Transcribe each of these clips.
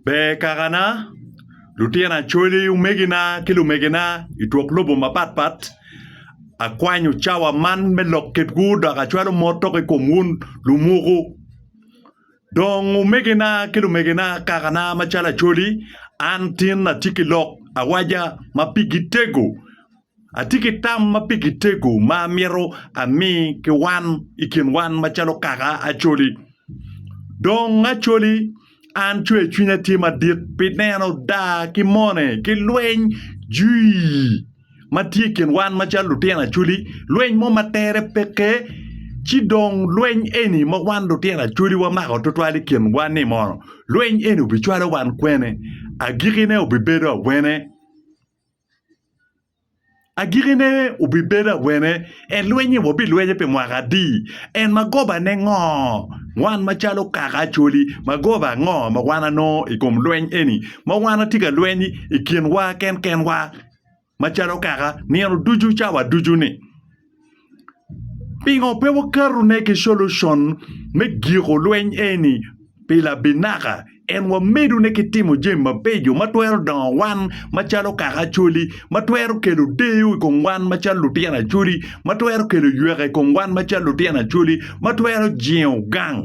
Ber kakana, lutino Acholi, omegina ki lumegina i twok lobo mapat pat, akwanyo cawa man me lok kitwu dok acwalo mot dok i kom wun lumuku. Dong omegina ki lumegina kakana macalo Acholi, an tin atye ki lok awaja ma pigi tego. Atye ki tam ma pi kitego ma amito ami ki wan i kin wan macalo kaka Acholi. Dong Acholi, an cwer cwinya tye madit pi neno daa ki mone ki lweny jui ma tye i kin wan macalo lutino Acholi, lweny mo ma tere peke. Ci dong lweny eni ma wan lutino Acholi wamako twatwal i kin wan-ni mono lweny eni obicwalo wan kwene? Agikkine obibedo awene? Agikine wubibedo awene? Elwenyo wabilwenye pi mwaka adi? En ma gobane ngo? Wan macalo kaka Acholi, magoba ango ma wan wanongo i kom lweny eni ma wan watye ka lweny i kinwa kenkenwa macalo kaka nino ducu, cawa ducu-ni? Pingo pe wakato ne ki solution me giko lweny eni pi labinaka en wamedo ne ki timo jami mabeco ma twero dongo wan macalo kaka Acholi ma twero kelo deyo I kom wan macalo lutino Acholi ma twero kelo yweka I kom wan macalo lutino Acholi ma twero jingo gang.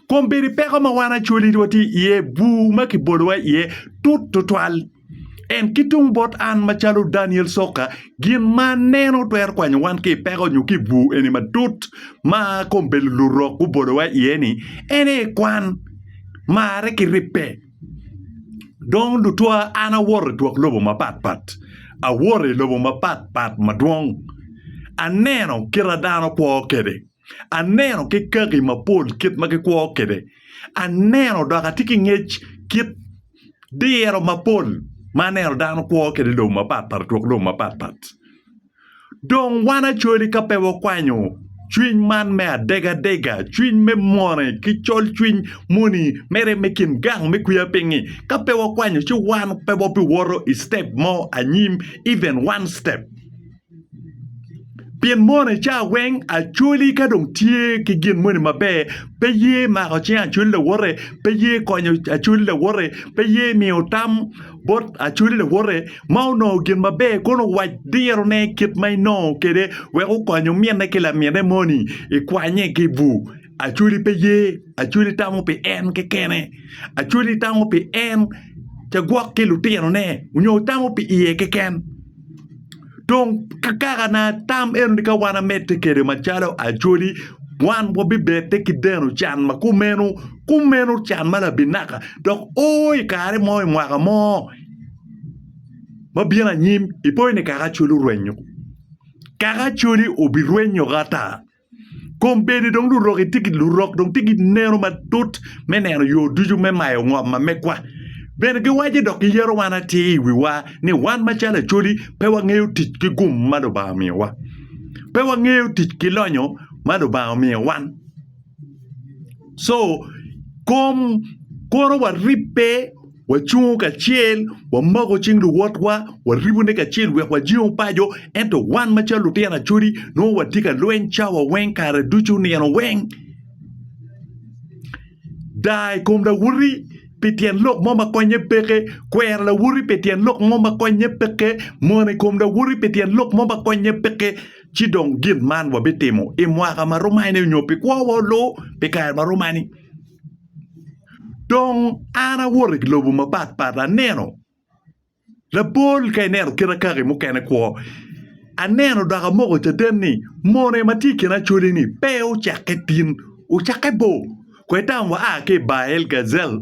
Kombeddi peko ma wan Acholi watye iye bur ma kibolowa iye tut tutwal. Ento ki tung bot an macalo Daniel Soka, gin ma aneno twero kwanyo wan ki i peko nyo ki i bur eni matut ma kombeddi lurok gubolowa iye ni en aye kwan, marre ki ribbe. Dong lutwa an awoto i twok lobo mapat pat, awoto i lobo mapat pat madwong, aneno kit ma dano kwo kwede. Aneno ki kaki mapol kit ma gikwo kwede. Aneno dok atye ki ngec kit diro mapol ma aneno dano kwo kwede i lobo mapatpat i twok lobo mapatpat. Dong wan acwali ka pe wakwanyo cwiny man me adegadega, cwiny me mone ki colcwiny moni mere me kin gang me kweyo piny-nyi, ka pe wakwanyo ci wan pe wabiwoto i citep mo anyim, even one step. Pien mono i cawa weng Acholi ka dong tye ki gin moni maber pe ye mako cing Acholi lawote pe ye konyo Acholi lawote pe ye miyo tam bot Acholi lawote ma onongo gin maber kono owac dirone kit ma inongo kwede wek okonyo ominne ki laminne moni ikwanye ki bur. Acwali pe ye, acwali tamo pi en kekene, acwali tamo pi en ca gwok ki lutinone nyo tamo pi iye keken. Dong kakana tam enoni ka wan amedde kede macalo acwali wan wabibedde ki deno can ma kumeno kumeno can ma labinaka dok o i kare mo i mwaka mo ma bino anyim ipo ni kaka acwali orwenyo kaka acwali obirwenyo ki ata. Kombeddi dong lurok itye ki lurok dong tye ki neno matut me neno yo ducu me mayo ngom ma megwa. Bene giwaco dok giyero wan atir i wiwa ni wan macalo Acholi pe wangeyo tic ki gum ma Lubanga omiyowa. Pe wangeyo tic ki lonyo ma Lubanga omiyo wan. Co, kom, koro waribbe. Wacungo kacel, wamako cing luwotwa, waribone kacel wek wajengo paco. Ento wan macalo lutino acodi, nongo watye ka lweny cawa weng, kare ducu, nino weng. Daa i kom lawoti pi tyen lok mo ma konnye peke, kwero lawoti pi tyen lok mo ma konnye peke, mono i kom lawoti pi tyen lok mo ma konnye peke. Ci dong gin man wabitimo i mwaka ma romani onyo pi kwowa olu pi kare ma romani. Dong an awoto i lobo mapat pat aneno labol ka ineno kit akaki mukene kwo aneno dok amoko caden ni mone ma tye i kin acoleni pe ocakke tin ocakke bor wek dang waa ki i Bael-gazel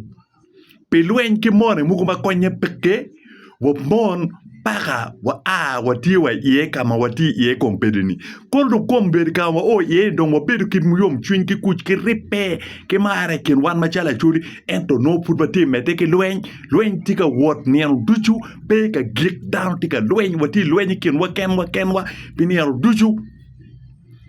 pi lweny ki mone mogo ma konye peke. wamon paka waa watye wa iye ka ma watye iye kong bedi-ni. Kono dong kong bedo ka ma wao iye ni dong wabedo kit muyomcwiny ki kuc ki ribbe ki mar i kin wan macalo Acholi ento nongo pud watye medde ki lweny, lweny tye ka wot nino ducu pe ka gik dano tye ka lweny watye i lweny i kinwa kenwa kenwa pi nino ducu.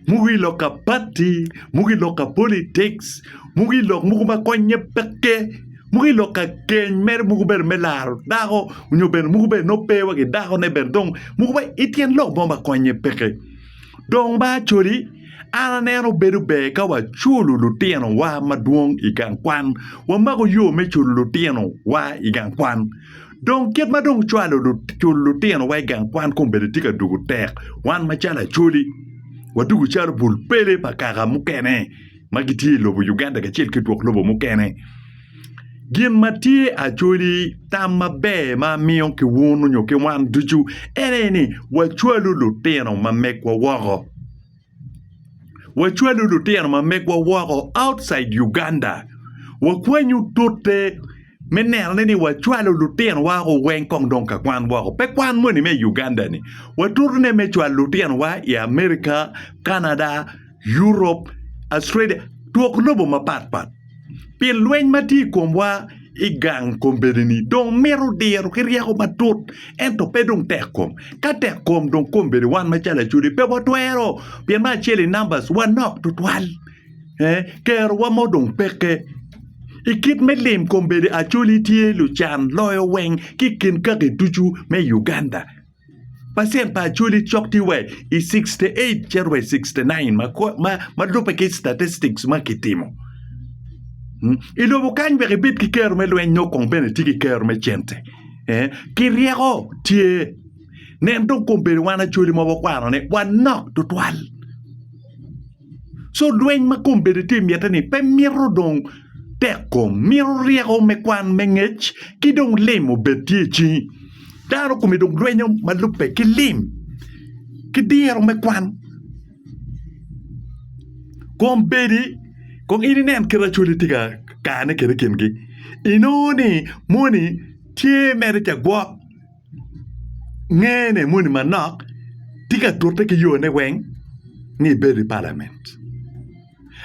mogo i lok kabati, mogo i lok ka politics, mogo i lok mogo ma konye peke, mogo i lok ka keny mere mogo bene me laro dako nyo bene mogo bene nongo pe wa ki dakone bene dong mogo bene i tyen lok mo ma konye peke. Dong ba coli an aneno bedo ber ka waculo lutinowa madwong i gang kwan, wamako yo me culo lutinowa i gang kwan. Dong kit ma dong ocwalo lutinowa i gang kwan kombeddi tye ka dwogo tek. Wan macalo Acholi, wadwogo calo bul pele pa kaka mukene ma gitye i lobo Uganda kacel ki twok lobo mukene. Gin ma tye Acholi, tam maber ma amiyo ki wunu nyo ki wan ducu en aye ni wacwalu lutino ma megwa woko. Wacwalo lutino ma megwa woko outside Uganda. Wakwanyo tute me neno ni wacwalo lutino wa o weng kong dong ka kwan woko. Pe kwan moni me Uganda ni. Watutu ne me cwalo lutino wa i America, Canada, Europe, Australia, twok lobo mapat pat. pi lweny ma tye i komwa i gang kombeddi-ni dong mito diro ki ryeko matut ento pe dong tek kom. Ka tek kom dong kombeddi wan macalo Acholi pe watwero pien me acel i numbers wanok tutwal, ee kerowa mo dong peke. I kit me lim kombeddi Acholi tye lucan loyo weng ki i kin kaki ducu me Uganda. Pacent pa Acholi cok tye wa i 68 cito wa i 69 ma lubbe ki statistics ma kitimo. Hmm? I lobo kany wek ibed ki kero me lweny nyo kong bene tye ki kero me cente. Eh? Ki ryeko tye. Nen dong kong bedo wan Acholi ma wakwano ni wanok tutwal. So lweny ma kom bene tye mitte ni pe mito dong tek kom, mito ryeko me kwan me ngec ki dong lim obed tye i cingi. Dano kome dong lwenyo ma lubbe ki lim ki diro me kwan. Kom bedi kong in inen kit Acholi tye ka kane kwede i kingi, inongo ni moni tye mere ca gwok. ngene moni manok tye ka tute ki yone weng ni ibedo i palament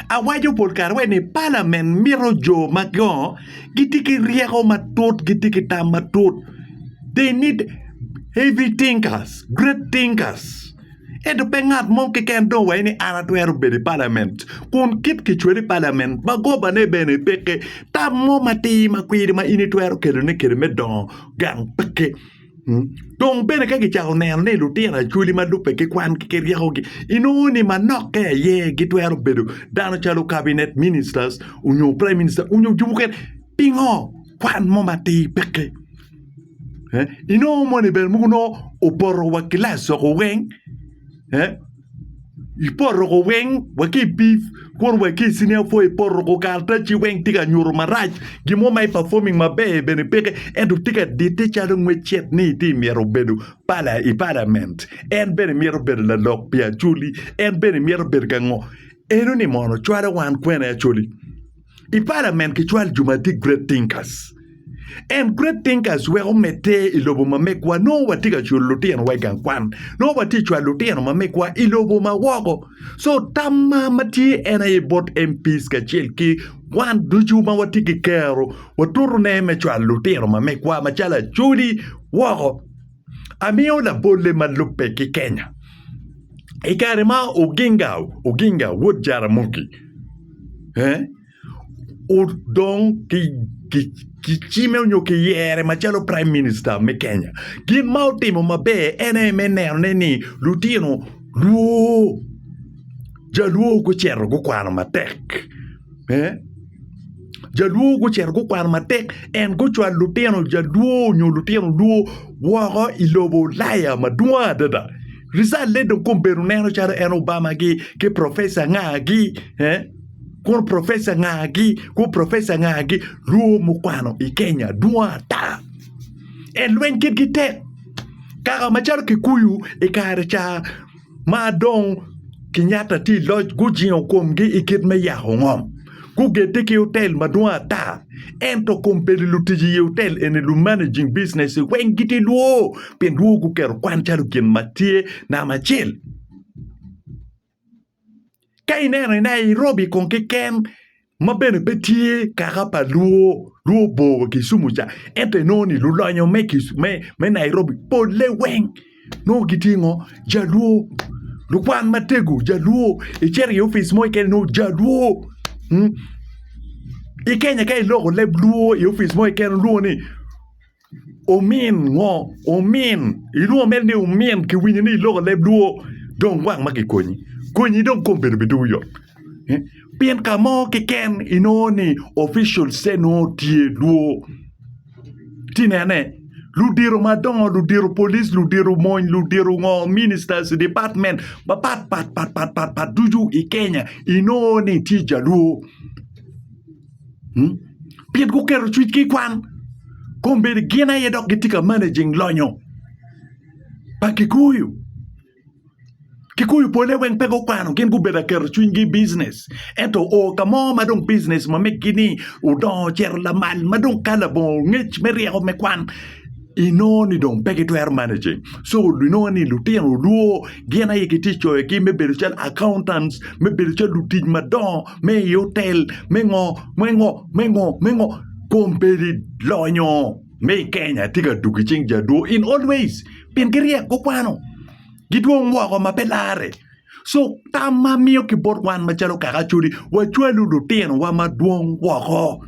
awaco pol kare wai ni palament mito jo ma gongo gitye ki ryeko matut gitye ki tam matut they need heavy thinkers, great thinkers ento pe ngat mo keken dong waci ni an atwero bedo i palament kun kit kicweli i palament magobane bene peke tam mo matir ma kwiri ma in itwero kelone kede me dongo. gang peke. Dong bene ka gicako neno ni lutino acholi ma lubbe ki kwangi ki ryekogi, inongo ni manokke aye gitwero bedo dano calo Cabinet Ministers onyo Prime Minister onyo jo mukene. Pingo? Kwan mo matir peke. Eh, Inongo moni bene muku nongo opoto wa kilac woko weng. Eh, i poruko weng wa ki bif kuro wa ki sini apwa i poruko karataci weng tye ka nyuto marac gin mo ma i performing maber bene peke ento tye ka dite calo ngecet ni itye ka myero obedo pala i palament en bene myero obedo lalok pi acholi en bene myero obedo ka ngo enoni mono cwalo wan kwene acholi. I palament kicwal jo ma tye great thinkers and great thinkers weko medde i lobo ma megwa nongo watye ka cwalo lutinowa i gang kwan nongo watye cwalo lutino ma megwa i lobo ma woko so tamma ma tye en aye bot MPs kacel ki wan ducu ma watye ki kero watutone me cwalo lutino ma megwa macalo Acholi woko amiyo labolle ma lubbe ki Kenya. I kare ma Oginga Oginga wod Jaramogi eh, odong ki ki cime onyo ki yere macalo prime minister me Kenya, gin ma otimo maber en aye me nenone ni lutino luo jaluo gucito gukwano matek. Jalwo gucito gukwano matek en gucwalo lutino jalwo nyo lutino lwo woko i lobo ulaya madwong adada rijale dong kombeddi ineno calo en Obama gi ki professor anga gi kun professor anga gi kun professor anga gi lwo mukwano i Kenya dwong ata en lweny kitgi tek kaka macalo kikuyu i kare ca. ma dong Kenyatta tye i loc gujingo komgi i kit me yako ngom gugedde ki otel madwong ata ento kombeddi lutic i otel eni lumanaging business weng gitye lwo pien lwo guketo kwan calo gin ma tye namba acel. Ka ineno i Nairobi kong keken ma bene pe tye kaka pa Luo, Luo bor Kisumu ca ento inongo ni lulonyo me Nairobi polle weng nongo gitye ngo? Jaluo. Lukwan matego Jaluo, icito i opic mo keken inongo Jaluo, i Kenya ka iloko leb Luo i opic mo keken lwongo ni. Omin ngo omin ilwongo mere ni omin kiwinyo ni iloko leb luo dong gwang ma kikonyi konyi dong kom bedo bitowu yot pien ka mo keken inongo ni officials-te nongo tye lwor ci nene ludito madongo ludito polic ludito mony ludito ngo ministers dipatmen mapat pat pat pat ducu i Kenya inongo ni tye jalwor. pien guketo cwinygi i kwan. Kombeddi gin aye dok gitye ka managing lonyo pa Kikuyu. Kikuyu pole weng pe gukwano gin gubedo ka keto cwinygi i bijinec ento o ka mo ma dong bijinec ma megi-ni odongo ocito lamal ma dong ka labongo ongec me ryeko me kwan inongo ni dong pe gitwero mane ceng so inongo ni lutino olwor gin aye gitye ka coyogi me bedo calo accountant me bedo calo lutic madongo me i otel me ngo me ngo me ngo me ngo kombeddi lonyo me i Kenya tye ka dwogo i cing jadwor in all ways pien giryek gukwano gidwong woko ma pe larre so tam ma amiyo ki bot wan macalo kaka Acholi wacwalu lutinowa madwong woko.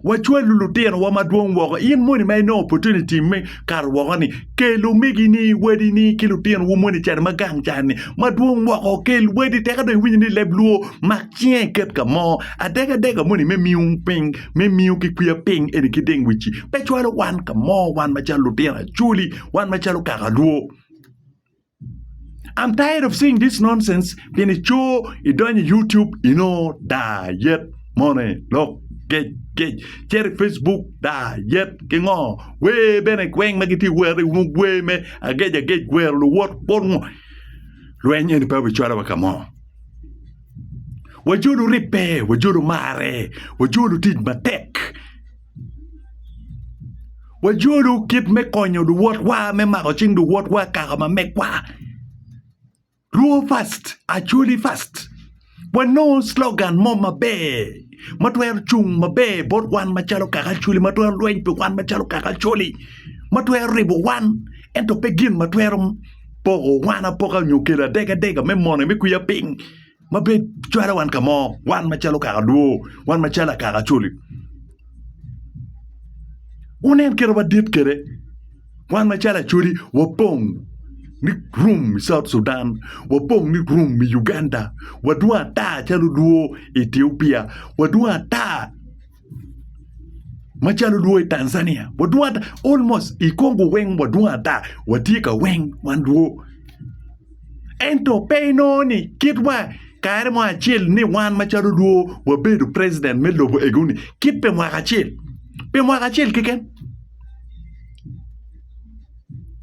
Wacwalo lutinowa madwong woko. In moni ma inongo opportunity me kato woko-ni, kel omegini, wadini ki lutinowu moni i can ma gang can-ni madwong woko. Kel wadi tek adong iwinyo ni leb lwor, mak cinge iket ka mo. Adegadega moni me miyo piny, me miyo ki kwiya piny eni ki deng wic-ci pe cwalo wan ka mo, wan macalo lutino Acholi, wan macalo kaka lwor. I'm tired of seeing this nonsense pien icoo idonyo i YouTube inongo dayet moni lok gec gec cito i Facebook dayet ki ngo wer bene weng ma gitye ka wero inongo wer me agec agec wero luwot bot ngo lweny eni pe obicwalo wa ka mo wajulu ribbe wajulu marre wajulu tic matek. Wajolu kit me konyo luwotwa me mako cing luwotwa i kaka ma megwa. Rwo first, Acholi first. Wanongo slogan mo maber ma twero cung maber bot wan macalo kaka Acholi ma twero lweny pi wan macalo kaka Acholi ma twero ribo wan ento pe gin ma twero poko wan apoka nyo kelo adega adega me mone me kwiya piny. ma bed cwalo wan ka mo wan macalo kaka dwo wan macalo akaka coli wunen kite ma dit kede wan macalo acoli wapong ni rum i south Sudan wapong ni rum i Uganda wadwong ata calo dwo i Ethiopia wadwong ata macalo dwo i Tanzania wadwong ata almost i Congo weng wadwong ata watye ka weng wan dwo ento pe inongo ni kitwa kare mo acel ni wan macalo dwo wabedo president me lobo egoni kit pa mwaka acel pi mwaka acel keken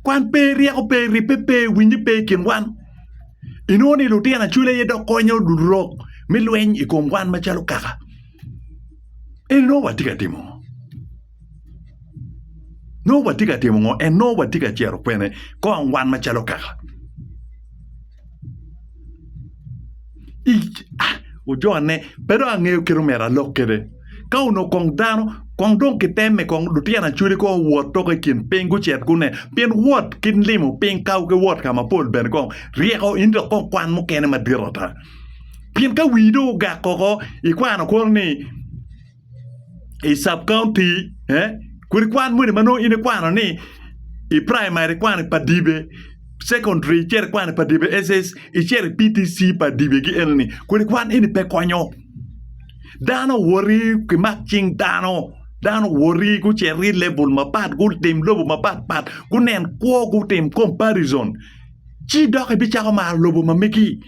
kwan pe ryeko pe ribbe pe winye pe i kin wan inongo ni lutino acwele aye dok konyo lurok me lweny i kom wan macalo kaka En nongo watye ka timo ngo? Nongo watye ka timo ngo? En nongo watye ka cito kwene? Kong wan macalo kaka i ah, wujone pe dong angeyo kit omera alok kede. Ka onongo kong dano kong dong kitemme kong lutino acwali kong owot tok i kin piny gucit gune pien wot ki limo piny ka ki wot ka mapol bene kong ryeko in dok kong kwan mukene madit ata. pien ka wii dong ogak koko ikwano koro ni i sub county eh kodi kwan moni ma nongo in ikwano ni i primary ikwano pa dibe secondary icito ikwano pa dibe SS icito i PTC pa dibegi enoni kodi kwan eni pe konyo dano owoti kimak cing dano dano owoti gucito ki level mapat gutim lobo mapat pat gunen kwo gutim comparison Ci dok ibicako maro lobo ma megi,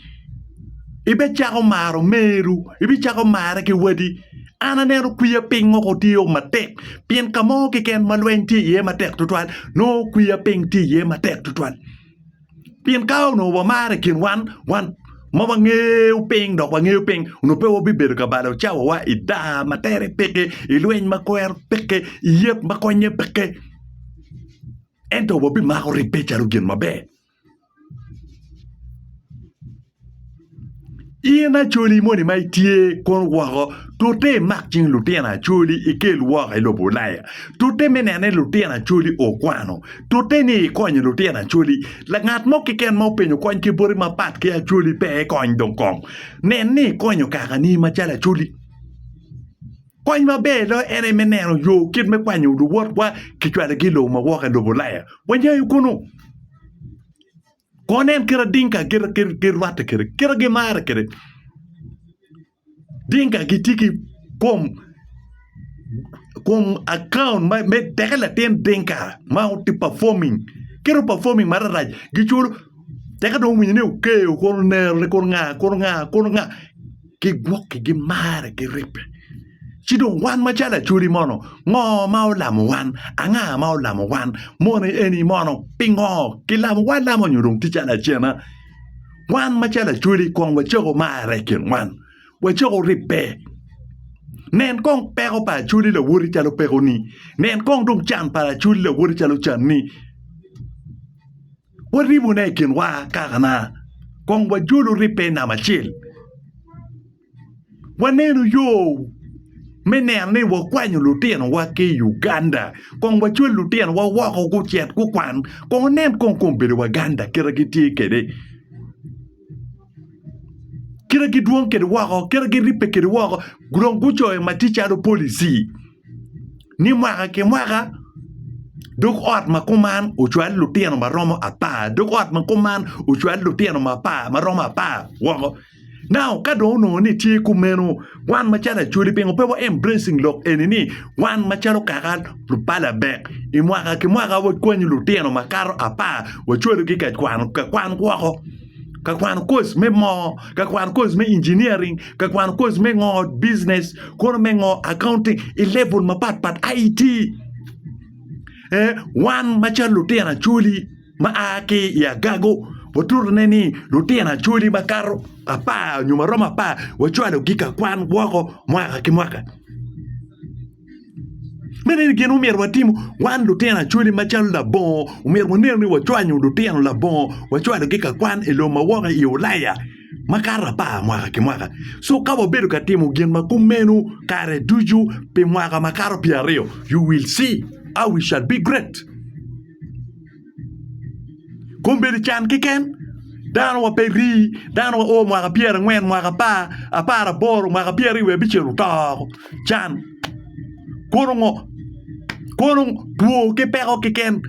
ibecako maro meru, ibicako marre ki wadi. An aneno kwiya piny woko otiyo matek, pien ka mo keken ma lweny tye iye matek twatwal, nongo kwiya piny tye iye matek twatwal. Pien ka onongo wamaro i kin wan, wan ma wangeyo piny dok wangeyo piny, onongo pe wabibedo ka balo cawawa i daa ma tere peke, i lweny ma kwero peke, i yet ma konnye peke. Ento wabimako ribbe calo gin maber. In acoli moni ma itye kun woko, tute imak cing lutino acoli ikel woko i lobo Ulaya. Tute me neno ni lutino acoli okwano. Tute ni ikonyo lutino acoli. Langat mo keken ma openyo kony ki boti mapat ki acoli pe ekony dong kong. Nen ni ikonyo kakani macalo acoli. Kony maber loyo en aye me neno yo kit me kwanyo luwotwa ki cwalogi i lobo ma woko i lobo Ulaya. Wanyayo kunu. Kono nen kit adinka girwatte kwede, kit gimarre kwede. Dinka gitye ki kom kom akaun me teke latin dinka ma tye performing kit o performing mararac giculo teke dong owinyo ni okeyo kono onero ni kono nga kono nga kono nga. ki gwokki gimare giribbe. Ci dong wan macalo Acholi mono, ngo ma olamo wan? Anga ma olamo wan? Moni eni mono, pingo kilamo wa lamo nyo dong tye calo acena? Wan macalo Acholi kong wacako marre i kin wan, wacako ribbe. Nen kong peko pa Acholi lawoti calo pekoni, nen kong dong can pa Acholi lawoti calo canni. waribone i kinwa akakana kong wajolu ribbe i nam acel. Waneno yo me neno ni wakwanyo lutinowa ki i Uganda kong wacwal lutinowa woko gucit gukwan kong wunen kong kombedo Waganda kite gitye kwede, kite gidwong kwede woko, kite giribbe kwede woko dong gucoyo ma tye calo policy. ni mwaka ki mwaka dog ot ma kuman ocwal lutino ma romo apar dog ot ma kuman ocwal lutino ma romo apar woko nao ka dong onongo ni tye kumeno wan macalo acholi pingo pe wa embracing lok eni ni wan macalo kaka lubalo abek i mwaka ki mwaka wakwanyo lutino makato apar wacwalogi ka kwano woko. ka kwano koc me moo, ka kwano koc me engineering, ka kwano koc me ngo business, kono me ngo accounting i level mapat pat IT. Eh, wan macalo lutino acholi ma a ki i agago watutone ni lutino acholi makato apar nyo maromo apar wacwalogi ka kwan woko mwaka ki mwaka. Meno eni gin ma omyero watim wan lutino acholi macalo labongo omyero wanen ni wacwanyo lutino labongo wacwalogi ka kwan i lobo ma woko i ulaya makato apar mwaka ki mwaka ci ka wabedo ka timo gin ma kumeno kare ducu pi mwaka makato pyeraryo you will see how we shall be great. Kom bedo can keken dano wa pe ri dano wa oo mwaka pyera angwen mwaka apar apara boro mwaka pyera aryo wiya bicel oto woko can kono ngo kono two ki peko keken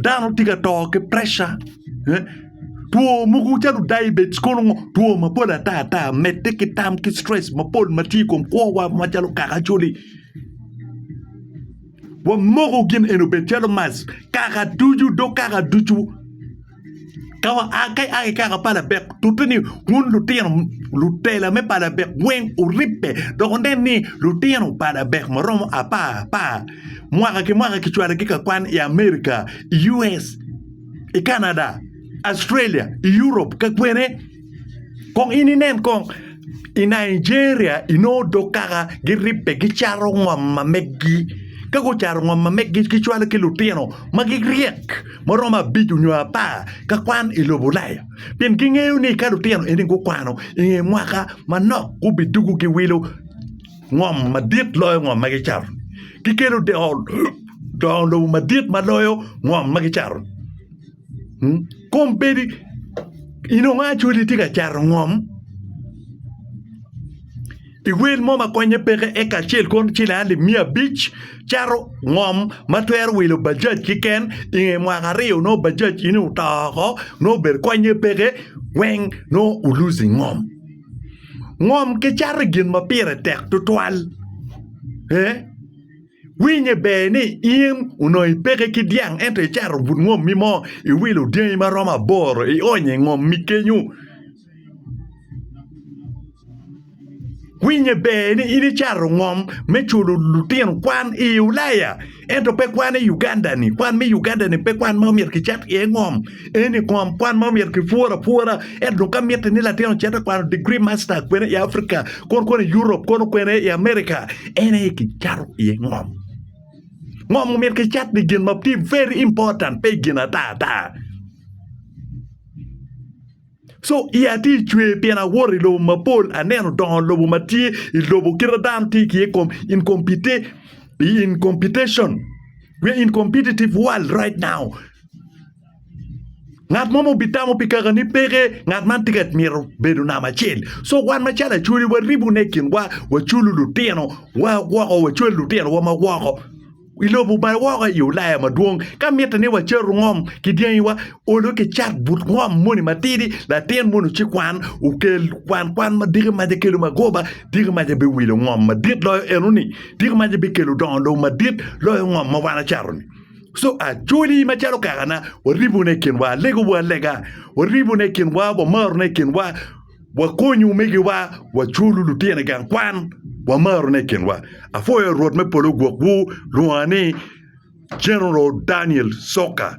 dano tye ka to ki preca two mogo calo diabetes kono ngo two mapol ata ata medde ki tam ki stress mapol matye i kom kwo wa macalo kaka coli. Wamoko gin eni obed calo mac kaka ducu dok kaka ducu ka waa ka i kaka pa labek tute ni wun lutino lutela me pa labek weng wuribbe dok wunen ni lutino pa labek ma romo apar apar mwaka ki mwaka kicwalogi ka kwan i Amerika, US, i Canada, Australia, i Europe ka kwene. Kong in inen kong i Nigeria inongo dog kaka giribbe gicato ngom ma megi ka gucato ngom ma megi gicwalo ki lutino ma giryek ma romo abic nyo apar ka kwan i lobo Ulaya pien gingeyo ni ka lutino eni gukwano i nge mwaka manok gubidwogo giwilo ngom madit loyo ngom ma gicato-ni gikelo dongo lobo madit ma loyo ngom ma gicato-ni. kombeddi inongo acholi tye ka cato ngom i wel mo ma konye peke eka acel kono cel alip miya abic cato ngom ma twero wilo bajaj kiken inge mwaka aryo nongo bajaj ini oto woko nongo obedo konye peke weng nongo u luzi ngom, ngom kicato i gin ma pire tek tutwal. Winye ber ni in onongo ipeke ki dyang ento icato but ngommi mo, iwilo dyangi ma romo aboro, ionyo i ngommi kenyo. Winye ber ni in icato ngom me culo lutino kwan i Ulaya ento pe kwan i Uganda-ni. Kwan me Uganda-ni pe kwan ma omyero kicat iye ngom. Eni kom kwan ma omyero kipwor apwora. Ento dong ka mitte ni latin ocit te kwano degree master kwene i Africa, kono kwene i Europe, kono kwene i America, en aye kicato iye ngom. Ngom omyero kicat pi gin ma tye very important, pe i gin ata ata. Co iya tye i cwer pien awoto i lobo mapol, aneno dongo lobo ma tye i lobo kit ma dano tye ki iye incompetition we are in competitive world right now ngat mo ma obitamo pi kaka ni peke ngat man tye ka mito bedo namba acel so wan macalo acholi waribune i kinwa waculo lutino wa woko wacwalo lutino wa ma woko. i lobo bal woko i Ulaya madwong. Ka mitte ni wacato ngom ki dyangiwa, olo ki cat but ngom moni matidi, latin mono ci kwan, okel kwan kwan ma diki maca kelo magoba, diki maca biwilo ngom madit loyo enoni, diki maca bikelo dongo lobo madit loyo ngom ma wan acato-ni. Co acoli macalo kakana, waribone i kinwa, alegowa alega, waribone i kinwa, wamarone i kinwa, Wakony omegiwa, waculu lutino i gang kwan, wamarone i kinwa. Apwoyo Rwot me polo gwokwu, lwonga ni General Daniel Soka.